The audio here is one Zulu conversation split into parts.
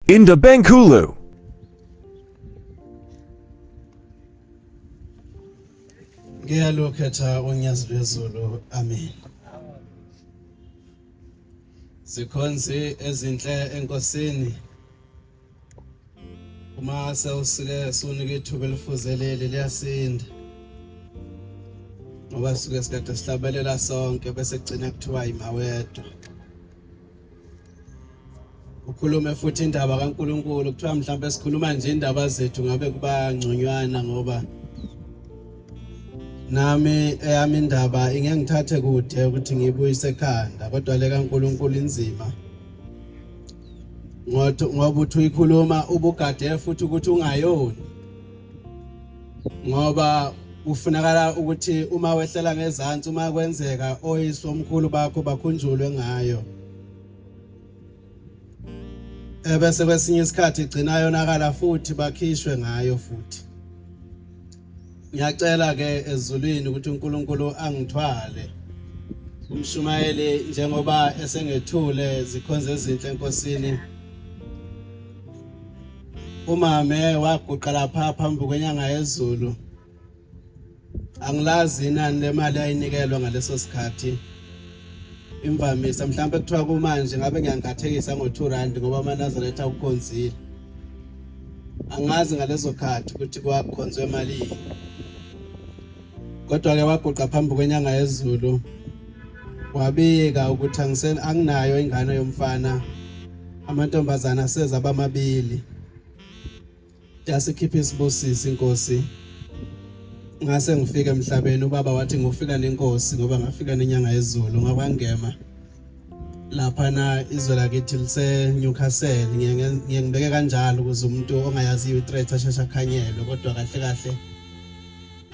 In the Benkulu. Ngiyalukhetha uNyazi lwezulu. Amen. Sikhonzi ezinhle enkosini. Uma sewusike sunike ithuba elifuzeleli liyasinda. Ngoba suke sikade sihlabelela sonke bese kugcina kuthiwa imawedwa. ukhulume futhi indaba kaNkuluNkulu kuthiwa mhlawumbe sikhuluma nje indaba zethu ngabe kuba ngconywana ngoba nami eyami indaba ingengithathe kude ukuthi ngiyibuyise ekhanda kodwa le kaNkuluNkulu inzima ngoba uthi uyikhuluma ubugade futhi ukuthi ungayoni ngoba kufunakala ukuthi uma wehlela ngezantsi uma kwenzeka oyise omkhulu bakho bakhunjulwe ngayo ebese kwesinye isikhathi igcina yonakala futhi bakhishwe ngayo futhi ngiyacela ke ezulwini ukuthi uNkulunkulu angithwale umshumayeli njengoba esengethule zikhonze ezinhle enkosini umame waguqa lapha phambi kwenyanga yezulu angilazi inani lemali ayinikelwa ngaleso sikhathi imvamisa mhlawumbe kuthiwa kumanje ngabe ngiyangathekisa ngo-two rand ngoba amanazaretha akukhonzile angazi ngalezo khathi ukuthi kwakukhonzwe malini kodwa-ke waguqa phambi kwenyanga yezulu wabika ukuthi anginayo ingane yomfana Amantombazana aseza abamabili. Yasikhipha isibusisi inkosi. Ngase ngifike emhlabeni ubaba wathi ngofika nenkosi ngoba ngafika nenyanga yezulu ngakwangema. Lapha na izwe lakithi lise Newcastle ngiye ngibeke kanjalo ukuze umuntu ongayaziyo i-threat asheshe akhanyelwe kodwa kahle kahle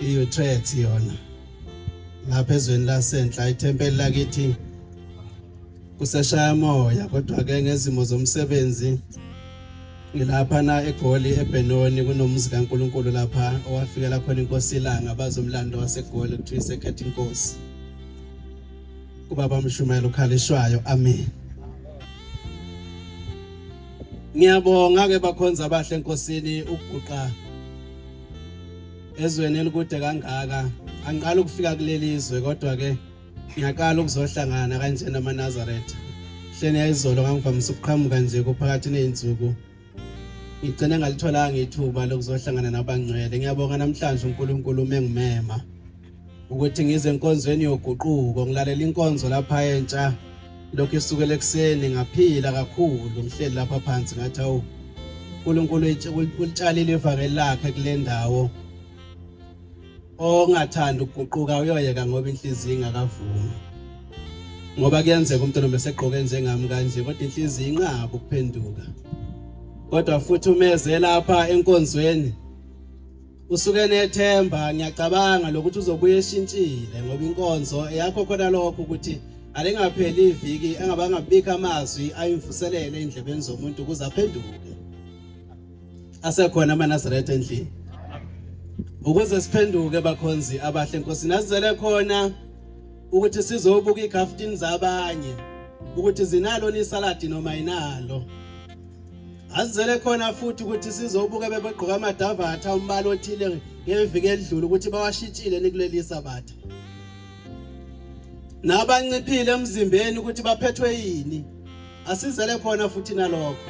I-Utrecht yona lapha ezweni lasenhla ithempeli lakithi kuseshaya moya kodwa ke ngezimo zomsebenzi ngilapha na eGoli eBenoni kunomuzi kaNkuluNkulu lapha owafikela khona inkosi ilanga bazomlando waseGoli kuthi isekhetha inkosi kubaba mshumayela ukhalishwayo amen Ngiyabonga ke bakhonza abahle enkosini ukuguqa ezweni elikude kangaka angiqala ukufika kuleli zwe kodwa ke ngiyaqala ukuzohlangana kanjena amaNazaretha hleni yayizolo ngangivamise ukuqhamuka nje kuphakathi nezinsuku ngigcine ngalitholanga ithuba lokuzohlangana nabangcwele ngiyabonga namhlanje uNkulunkulu umengimema ukuthi ngize enkonzweni yoguquko ngilalela inkonzo lapha entsha lokhu isukela ekuseni ngaphila kakhulu ngihleli lapha phansi ngathi awu uNkulunkulu ulitshalile ivangeli lakhe kule ndawo ongathanda ukuguquka uyoyeka ngoba inhliziyo ingakavumi ngoba kuyenzeka umuntu nombe segqoke njengami kanje kodwa inhliziyo inqaba ukuphenduka kodwa futhi umeze lapha enkonzweni Usuke nethemba ngiyacabanga lokuthi uzobuye eshintshile ngoba inkonzo eyakho khona lokho ukuthi alingapheli iviki engabanga bika amazwi ayimvuselele endlebeni zomuntu ukuze aphenduke asekhona amaNazaretha endlini ukuze siphenduke bakhonzi abahle inkosi nazizele khona ukuthi sizobuka igaftin zabanye ukuthi zinalo nisaladi noma inalo Azizele khona futhi ukuthi sizobuka bebegqoka amadavatha umbala othile ngeviki elidlule ukuthi bawashitshile nikuleli sabatha. Nabanciphile emzimbeni ukuthi baphethwe yini. Asizele khona futhi nalokho.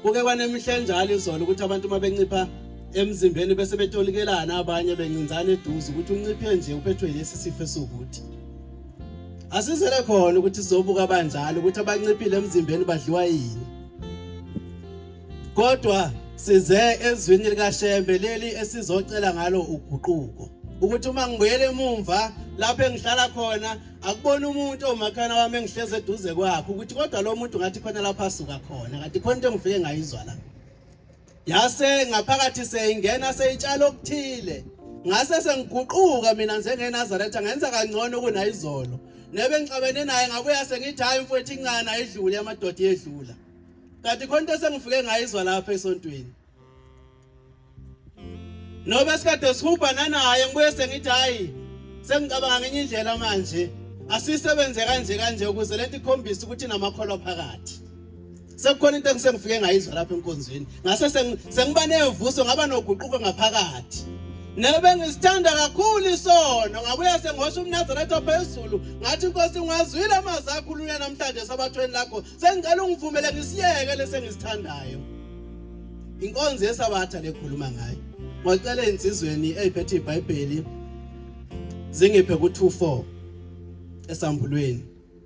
Kuke kwanemihla enjalo izolo ukuthi abantu mabencipha emzimbeni bese betolikelana abanye bencinzana eduze ukuthi unciphe nje uphethwe lesi sifo esukuthi. Asizele khona ukuthi sizobuka banjalo ukuthi abanciphile emzimbeni badliwa yini. Kodwa size ezwini likaShembe leli esizocela ngalo uguquko. ukuthi uma ngibuyele emumva lapho engihlala khona akubona umuntu omakhana wami engihleze eduze kwakhe ukuthi kodwa lo muntu ngathi khona lapho asuka khona kanti khona into engifike ngayizwa la Yase ngaphakathi seyingena seyitshala okuthile. Ngase sengiguquka mina njengeNazaretha ngenza kangcono kunayizolo. Nebe ngixabene naye ngabuya sengithi hayi mfowethu incane ayidlule amadoda yedlula. Kanti khona into sengifike ngayizwa lapha esontweni. Noba sikade sihuba nanaye ngibuye sengithi hayi sengicabanga ngenye indlela manje. Asisebenze kanje kanje ukuze lento ikhombise ukuthi namakholwa phakathi. sekukhona into engisengifike ngayizwa lapha enkonzweni ngase sengiba nevuso ngaba noguquko ngaphakathi nebe ngisithanda kakhulu isono ngabuya sengihosha umnazaretha ophezulu ngathi inkosi ngwazwile amazwi akho uluya namhlanje esabathweni lakho sengicela ungivumele ngisiyeke lesengisithandayo inkonzo yesabatha lekhuluma ngayo ngocela insizweni eyiphethe ibhayibheli zingiphe ku 24 esambulweni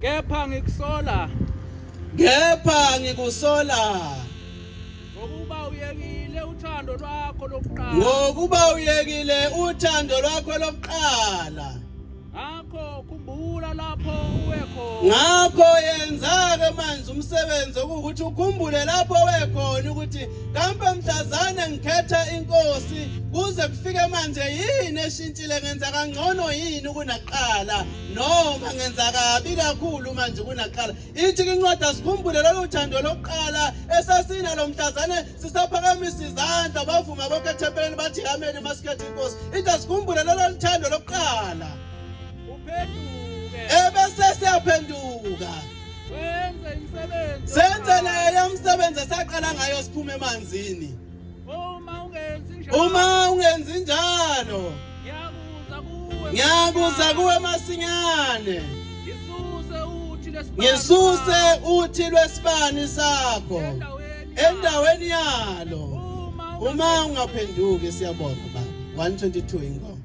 kepha ngikusola kepha ngikusola ngokuba uyekile uthando lwakho lokuqala ngokuba uyekile uthando lwakho lokuqala ngakho khumbula lapho uwe khona ngakho yenza-ke manje umsebenzi okuwukuthi ukhumbule lapho uwe khona ukuthi kambe mhlazane ngikhetha inkosi kuze kufike manje yini eshintshile ngenza kangcono yini kunakuqala noma ngenza kabi kakhulu manje kunaqala ithi incwadi asikhumbule lolu thando lokuqala esasina lo mhlazane sisaphakamisa izandla bavuma bonke ethempeleni bathi amen masikhethe inkosi ithi asikhumbule lolu thando lokuqala ebese siyaphenduka senze naye umsebenzi esaqala ngayo siphume emanzini uma ungenzi njalo ngiyakuza kuwe masinyane ngisuse uthi lwesibani sakho endaweni yalo uma ungaphenduki siyabonga baba 122 ingoma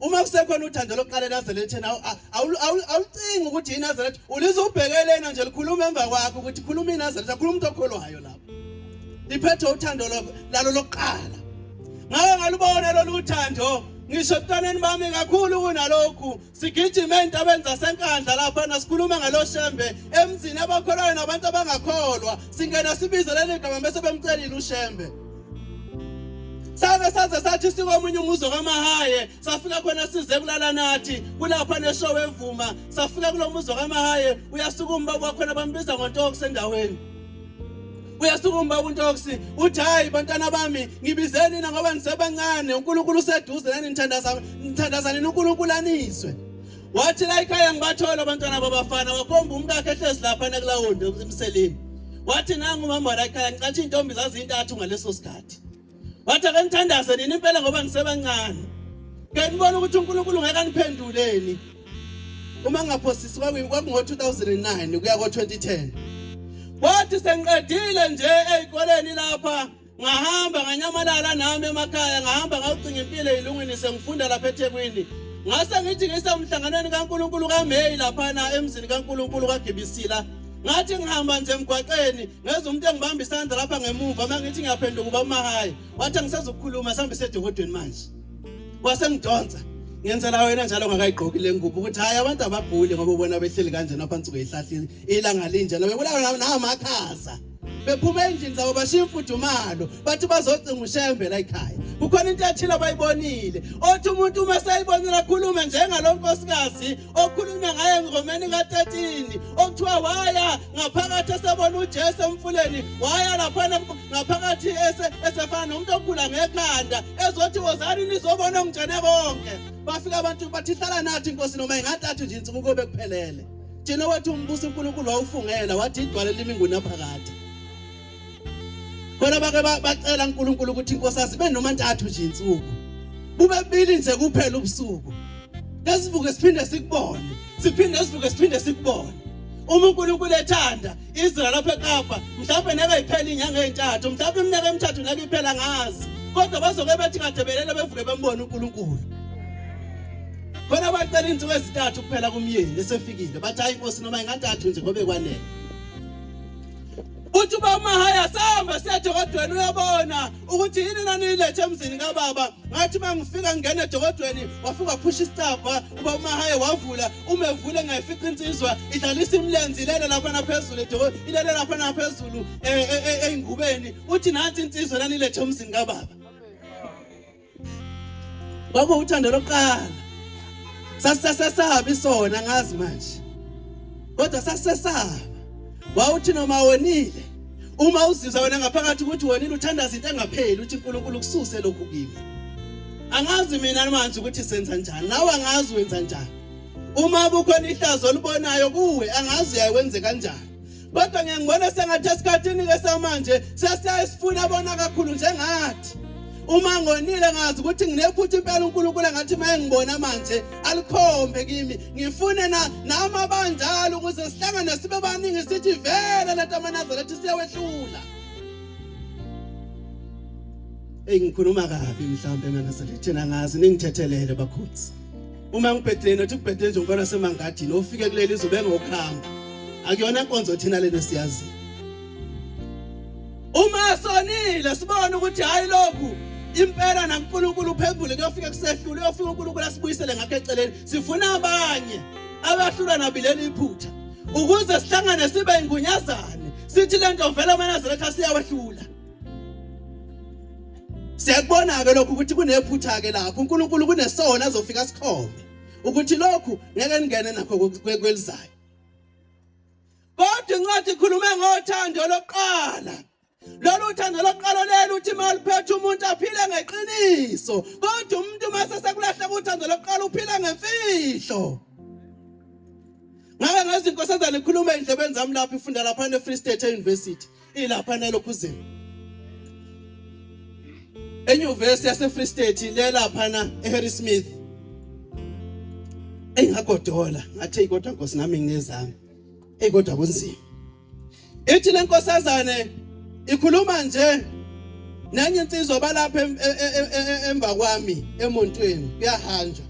uma kusekhona uthando lokuqala eNazarethen awucingi ukuthi iNazaretha ulize ubhekelena nje likhuluma emva kwakho ukuthi khuluma iNazaretha khuluma umuntu okholwayo lapho liphethe uthando lalo lokuqala ngawe ngalubona lolu thando ngisho ebuntwaneni bami kakhulu kunalokhu sigijima ezintabeni zasenkandla laphana sikhuluma ngalo shembe emzini abakholwayo nabantu abangakholwa singena sibize leli gama bese bemcelile ushembe sake saze sathi sikomunye umuzi kamahaye safika khona size kulala nathi kulapha neshow evuma safika kulo muzi kamahaye uyasuka umba kwakhona bambiza ngontokokusendaweni uyasuka umbaba untoksi uthi hayi bantwana bami ngibizeni nina ngoba ngisebancane unkulunkulu useduze nani nithandazanini unkulunkulu aniswe wathi la ikhaya ngibathola abantwana babafana wakhomba umkakhe ehlezi lapha nakulawundi emseleni wathi nangu umama la ikhaya ngicathi iy'ntombi zazintathu ngaleso sikhathi wathi ake nithandaze nini impela ngoba nisebancane ke nibona ukuthi uNkulunkulu ngeke aniphenduleni uma ngingaphosisi kwakungo-2009 kuya ko-2010 kwathi sengiqedile nje ey'koleni lapha ngahamba nganyamalala nami emakhaya ngahamba ngawucinga impilo eyilungwini sengifunda lapha ethekwini ngase ngithi ngisemhlanganweni kankulunkulu kameyi laphana emzini kankulunkulu kagibisila ngathi ngihamba nje emgwaqeni ngezwa umuntu engibamba isandla lapha ngemuva uma ngithi ngiyaphenduka uba umahayi wathi angisezukukhuluma sihambe sedokodweni manje wasengidonsa ngenzela wena njalo ngakayigqoki le ngubo ukuthi hhayi abantu abaguli ngoba ubona behleli kanjena phansi kweyihlahla ilanga linjena bebulawa namakhaza bephuma endlini zabo bashiya imfudumalo bathi bazocinga ushembe la ekhaya kukhona into ethile abayibonile othi umuntu uma seyibonile akhulume njengalo nkosikazi okhulunywa ngaye engomeni ka-13 okuthiwa waya ngaphakathi esebona ujesu emfuleni waya laphana ngaphakathi esefana nomuntu ogula ngekhanda ezothi wozani nizobona ongitshene konke bafika abantu bathi hlala nathi inkosi noma ingathathu nje insuku kobe kuphelele thina wethu umbuso unkulunkulu wawufungela wathi idwale limingunaphakade bona bake bacela uNkulunkulu ukuthi inkosi asibe noma ntathu nje insuku bube bili nje kuphela ubusuku ngesivuke siphinde sikubone siphinde sivuke siphinde sikubone uma uNkulunkulu ethanda izwe lapha eKapa mhlawumbe neke iphela inyanga ezintathu mhlawumbe iminyaka emithathu neke iphela ngazi kodwa bazoke bethi kadebelele bevuke bembone uNkulunkulu khona bacela insuku ezintathu kuphela kumyeni esefikile bathi hayi inkosi noma ingantathu nje ngobe kwanele uthi uba umahaya sahamba siya dokodweni uyabona ukuthi yini naniyilethe emzini kababa ngathi uma ngifika ngingena edokodweni wafika waphusha isicabha uba umahaya wavula uma evule ngayifica insizwa idlalisa imilenzi ilele lapha naphezulu ilele lapha naphezulu eh, eh, eh, ey'ngubeni uthi nansi insizwa naniyilethe emzini kababa Baba uthando lokuqala sasisesaba isona ngazi manje kodwa sasisesaba wawuthi noma wonile uma uzizwa wena ngaphakathi ukuthi wonile uthandaza into engapheli uthi uNkulunkulu kususe lokhu kimi angazi mina manje ukuthi senza njani nawe angazi wenza njani uma kukhona ihlazo olibonayo kuwe angazi uyawenze kanjani kodwa ngiyangibona sengathi esikhathini-ke samanje sesiyayisifuna bona kakhulu njengathi uma ngonile ngazi ukuthi nginephutha impela uNkulunkulu ngathi maye ngibona manje alikhombe kimi ngifune na nama banjalo ukuze sihlangane sibe baningi sithi vele leta manazaretha siyawehlula Ey ngikhuluma kabi mhlambe manazaretha ngazi ningithethelele bakhosi uma ngibhedeni othi kubhedeni nje umfana semangadini ofike kuleli izobe ngokuhamba akuyona inkonzo thina lena siyazi uma sonile sibone ukuthi hayi lokhu impela naNkulunkulu uphembule kuyofika kusehlule uyofika uNkulunkulu asibuyisele ngakhe eceleni sifuna abanye abahlula nabileli iphutha ukuze sihlangane sibe ingunyazane sithi lento vele amaNazaretha siyawehlula siyakubona-ke lokhu ukuthi kunephutha-ke lapho unkulunkulu kunesona azofika sikhombe ukuthi lokhu ngeke ningene nakho kwelizayo kodwa incwadi ikhulume ngothando lokuqala lolu thando lokuqala leli uthi uma luphethe umuntu aphile ngeqiniso kodwa umuntu uma sesekulahleka uthando lokuqala uphile ngemfihlo ngake ngezinkosazana ikhuluma endlebeni zami lapho ifunda lapha ne-free state e-university ilapha eNelokhuzini enyuvesi yaseFree State lelaphana eHarrismith engagodola ngathi kodwa Nkosi nami nginezami ey kodwa kunzima ithi lenkosazane ikhuluma nje nenye insizwa balapha e, e, e, emva kwami emontweni kuyahanjwa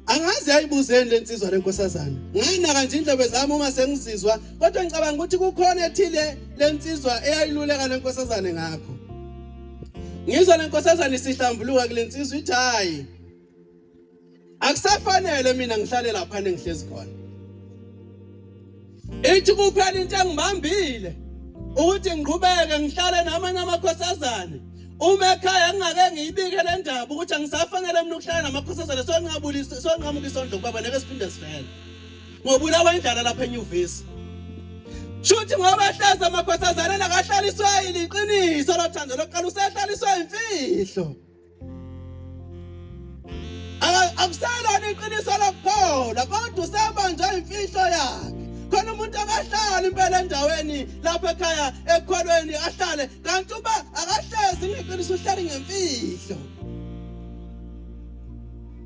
Angazi yayibuzeni lensizwa lenkosazana. Ngayinaka nje indlobe zami uma sengizizwa kodwa ngicabanga ukuthi kukhona ethile lensizwa eyayiluleka lenkosazane ngakho. Ngizwa lenkosazana isihlambuluka kulensizwa ithi hayi. Akusafanele mina ngihlale lapha nengihlezi khona. ithi kuphela into engibambile ukuthi ngiqhubeke ngihlale namanye amakhosazane uma ekhaya ngingake ngiyibike le ndaba ukuthi angisafanele mina ukuhlala namakhosazane sonqabulisa sonqamuka isondlo kubaba neke siphinde sivele ngobulawa indlala lapha enyuvesi shuthi ngoba ehlaza amakhosazane nakahlaliswa yiliqiniso lothando lokuqala usehlaliswa imfihlo akuselona iqiniso lokuphola kodwa usebanjwa imfihlo yakhe khona umuntu akahlali impela endaweni lapha ekhaya ekholweni ahlale kanti uba akahlezi ngeqiniso uhlale ngemfihlo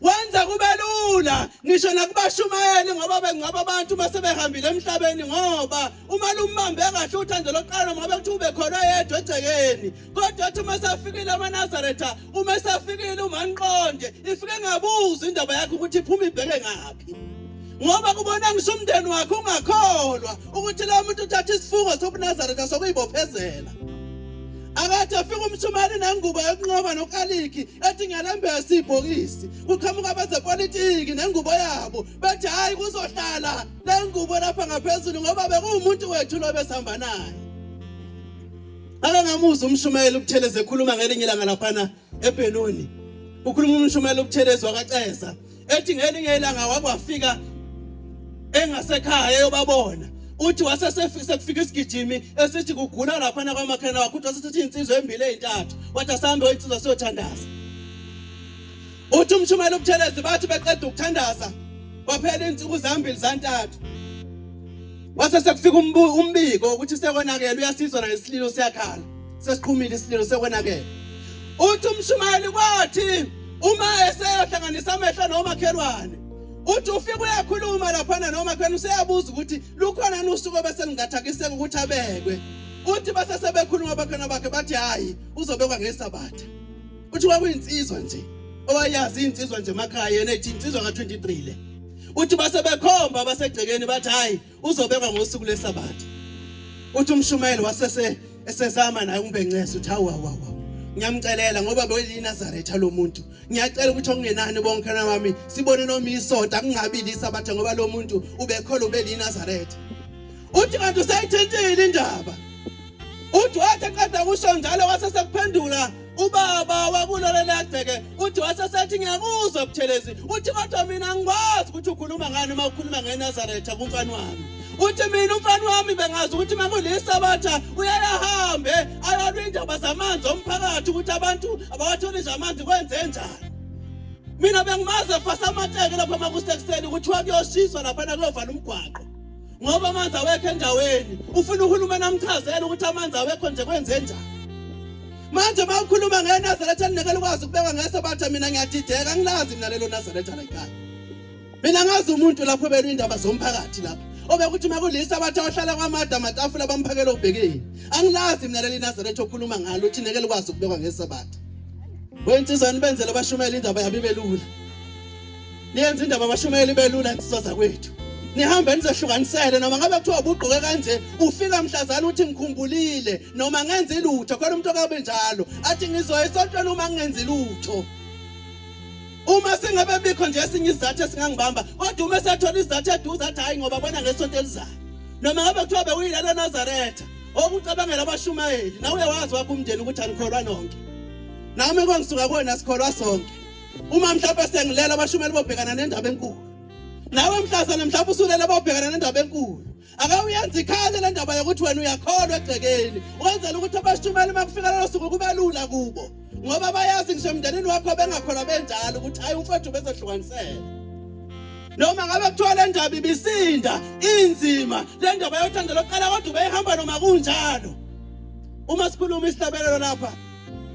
wenza kube lula ngisho nakubashumayeli ngoba bengcwaba abantu uma sebehambile emhlabeni ngoba uma lumbambe kahle uthando lokuqala noma bekuthiwa ubekhona yedwa egcekeni kodwa athi uma esafikile amanazaretha uma esafikile umanqonde ifike ngabuza indaba yakhe ukuthi iphuma ibheke ngaphi ngoba kubona ngisho umndeni wakhe ungakholwa ukuthi lo muntu uthatha isifungo sobunazaretha sokuyibophezela akathi afika umshumane nengubo yokunqoba nokalikhi ethi ngiyalembesa ibhokisi kuqhamuka abezepolitiki nengubo yabo bethi hhayi kuzohlala le ngubo lapha ngaphezulu ngoba bekuwumuntu wethu lo besihamba naye ake ngamuzwa umshumayeli ubuthelezi ekhuluma ngelinye ilanga laphana ebhenoni ukhuluma umshumayeli ubuthelezi wakaceza ethi ngelinye ilanga wakwafika engasekhaya eyobabona uthi wasesekufika isigijimi esithi kugula laphana kwamakhena wakho uthi wasesethi insizwa embili ezintathu wathi asambe oyinsizwa siyothandaza uthi umshumela ubuthelezi bathi beqeda ukuthandaza kwaphela izinsuku zambili zantathu Wase sekufika umbiko ukuthi sekonakele uyasizwa na isililo siyakhala. Sesiqhumile isililo sekonakele. Uthi umshumayeli kwathi uma eseyohlanganisa amehlo nomakhelwane uthi ufike uyakhuluma laphana noma khona useyabuza ukuthi lukhona nusuku bese lingathakiseka ukuthi abekwe uthi base sebekhuluma bakhona bakhe bathi hayi uzobekwa ngesabatha uthi kwakuyinsizwa nje owayazi insizwa nje emakhaya yena ethi insizwa ka23 le uthi base bekhomba abasegcekeni bathi hayi uzobekwa ngosuku lesabatha uthi umshumayeli wasese esezama naye umbencesa uthi hawu hawu ngiyamcelela ngoba beyinazaretha lo muntu ngiyacela ukuthi okungenani bonke nami sibone noma isonta kungabi lisabatha ngoba lo muntu ubekhola ubelinazaretha uthi kanti usayithintile indaba uthi wathi eqeda kusho njalo wasesephendula ubaba wakulona lagceke uthi wasesethi ngiyakuzwa buthelezi uthi kodwa mina ngikwazi ukuthi ukhuluma ngani uma ukhuluma ngenazaretha kumfana wami uthi mina umfana wami bengazi ukuthi uma kulisabatha uyayahambe ayalwa indaba zamanzi omphakathi ukuthi abantu abawatholi nje amanzi kwenze njani mina bengimaze fasamateke lapha makusekuseni kuthiwa kuyoshiswa laphana kuyovala umgwaqo ngoba amanzi awekho endaweni ufuna uhulumeni amchazele ukuthi amanzi awekho nje kwenze njani manje uma ukhuluma ngenazaretha ninekela ukwazi ukubeka ngesabatha mina ngiyadideka ngilazi mina lelo nazaretha layikhaya mina ngazi umuntu lapho belwa indaba zomphakathi lapho obekuthi uma kulisa abathi abahlala kwamada amatafula bamphakela obhekeni angilazi mina leli nazaretha okhuluma ngalo ukuthi nekela ukwazi ukubekwa ngesabatha wensizwa nibenzele abashumela indaba yabo ibelula niyenza indaba abashumayeli belula insizwa zakwethu nihambe nizehlukanisele noma ngabe kuthiwa ubugqoke kanje ufika mhlazana uthi ngikhumbulile noma ngenze lutho khona umuntu okabe njalo athi ngizoya esontweni uma ngingenzi lutho uma singabe bikho nje esinye isizathu esingangibamba kodwa uma esethola isizathu eduze athi hhayi ngoba bona ngesonto elizayo noma ngabe kuthiwa bewuyilana enazaretha okucabangela abashumayeli nawe uyawazi wakho umndeni ukuthi anikholwa nonke nami kwangisuka kuwena sikholwa sonke uma mhlawumbe sengilela abashumeli bobhekana nendaba enkulu nawe mhlazana mhlawumbe usulela bobhekana nendaba enkulu ake uyenze ikhale le ndaba yokuthi wena uyakholwa egcekeni wenzela ukuthi abashumeli uma kufika lelo suku kube lula kubo ngoba bayazi ngisho emndenini wakho bengakholwa benjalo ukuthi hhayi umfowethu bezohlukanisela noma ngabe kuthiwa le ndaba ibisinda inzima le ndaba yothando lokuqala kodwa ubeyihamba noma kunjalo uma sikhuluma isihlabelelo lapha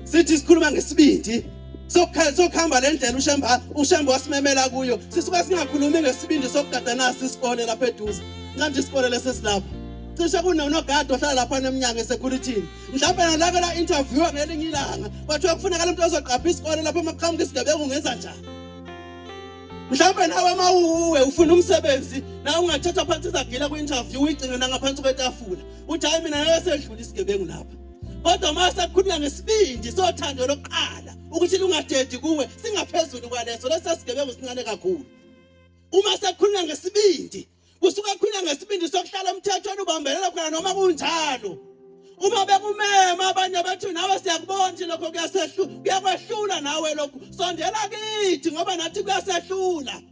sithi sikhuluma ngesibindi sokuhamba le ndlela ushamba ushamba wasimemela kuyo sisuka singakhulumi ngesibindi sokugada nasi isikole lapha eduze manje isikole lesesilapha cishe kunonogada ohlala lapha nemnyango esecurity mhlawumbe nalake la interview ngelinye ilanga kwathiwa kufuneka lomntu ozoqapha isikole lapha uma kuqhamuka isigebengu ngenza njani mhlawumbe nawe uma uwe ufuna umsebenzi nawe ungathatha phansi izagila kwi-interview uyigcine nangaphansi kwetafula uthi hayi mina ngeke sedlula isigebengu lapha kodwa uma sekukhuluma ngesibindi sothando lokuqala ukuthi lungadedi kuwe singaphezulu kwaleso lesasigebengu sincane kakhulu uma sekukhuluma ngesibindi kusuke kukhuluma ngesibindi sokuhlala umthethweni ubambelela khona noma kunjalo uma bekumema abanye bethu nawe siyakubona ukuthi lokho kuyasehlula kuyakwehlula nawe lokhu sondela kithi ngoba nathi kuyasehlula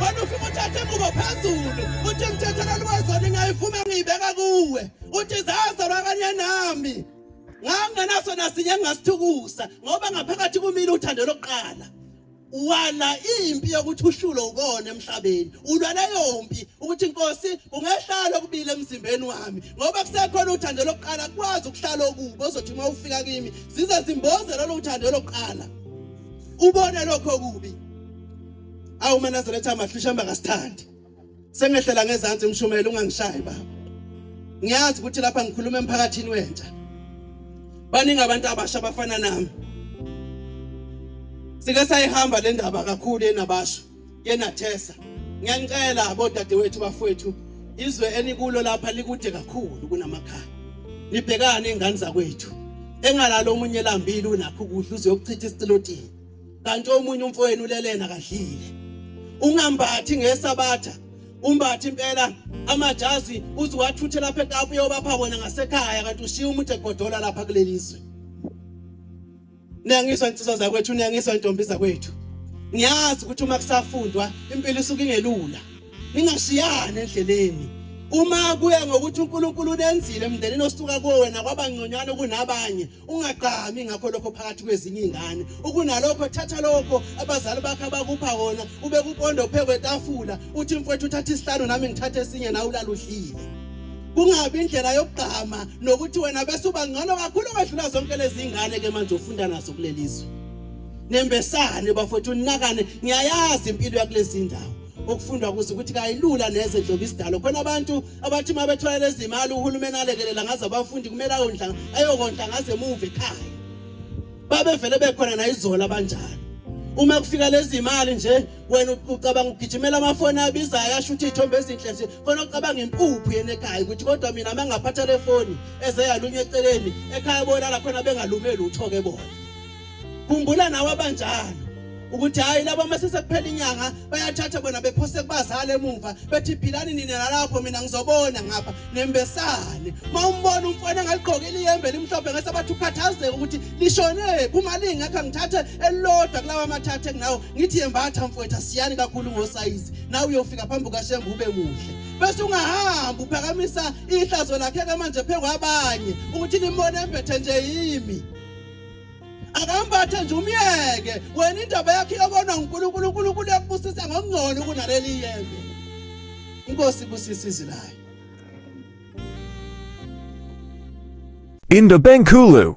wena ufike uthathe ingubo phezulu uthi ngithethelani wezoni ngayivuma ngiyibeka kuwe uthi zazalwa kanye nami ngangenaso nasinye engingasithukusa ngoba ngaphakathi kumile uthando lokuqala wala impi yokuthi ushulo ukona emhlabeni ulwa leyo mpi ukuthi inkosi ungehlala okubili emzimbeni wami ngoba kusekhona uthando lokuqala kwazi ukuhlala okubi ozothi uma ufika kimi zize zimboze lolu thando lokuqala ubone lokho kubi awu manazaretha amahle ushamba kasithandi sengehlela ngezansi umshumela ungangishayi baba ngiyazi ukuthi lapha ngikhuluma emphakathini wentsha baningi abantu abasha abafana nami sike sayihamba le ndaba kakhulu enabasha yenathesa ngiyanicela bodadewethu bafowethu izwe enikulo lapha likude kakhulu kunamakhaya nibhekane ingane zakwethu engalalo omunye lambili unakho ukudla uzoyokuchitha isitilotini kanti omunye umfowenu ulelena kadlile ungambathi ngesabatha umbathi impela amajazi uziwathuthe lapha ekapu yobapha wona ngasekhaya kanti ushiya umuntu egodola lapha kulelizwe Niyangiswa insizwa zakwethu, niyangiswa intombi zakwethu. Ngiyazi ukuthi uma kusafundwa impilo isuke ingelula. Ningashiyani endleleni. Uma kuya ngokuthi uNkulunkulu unenzile emndenini osuka kuwo wena kwabangconywana kunabanye, ungagqami ngakho lokho phakathi kwezinye izingane. Ukunalokho thatha lokho abazali bakhe abakupha wona, ube kupondo phekwe etafula, uthi mfowethu uthatha isihlanu nami ngithathe esinye nawe ulaluhlile. kungabi indlela yokugqama nokuthi wena bese uba ngcono kakhulu kwedlula zonke lezi ingane ke manje ufunda nazo kulelizwe nembesane bafowethu unakane ngiyayazi impilo yakulezi ndawo okufundwa kuzo ukuthi kayilula neze njengoba isidalo khona abantu abathi uma bethola lezi imali uhulumeni alekelela ngaze abafundi kumele ayondla ayokondla ngaze emuva ekhaya babevele bekhona nayizola abanjalo uma kufika lezi imali nje wena ucabanga ugijimela amafoni abizayo asho ukuthi iy'thombe ezinhle nje khona ucabanga impuphu yena ekhaya ukuthi kodwa mina uma ngingaphatha le foni eze yalunywa eceleni ekhaya bolala khona bengalumeli utho-ke bona khumbula nawe abanjalo ukuthi hhayi laba uma sesekuphela inyanga bayathatha bona bephose kubazali emuva bethi philani nina nalapho mina ngizobona ngapha nembesane uma umbona umfana engaligqokile iyembe elimhlophe ngese bathi ukhathazeke ukuthi lishonephi uma lingekho ngithathe elilodwa kulawa amathathe kunawo ngithi yembatha mfwetha siyani kakhulu ngosayizi nawe uyofika phambi kukashembe ube muhle bese ungahambi uphakamisa ihlazo lakhe ke manje phezu kwabanye ukuthi nimbone embethe nje yimi akambathe nje umyeke wena indaba yakhe iyobonwa ngunkulunkulu unkulunkulu yakubusisa ngokungcono kunaleli yembe inkosi ibusisa izwi layo In the Benkulu,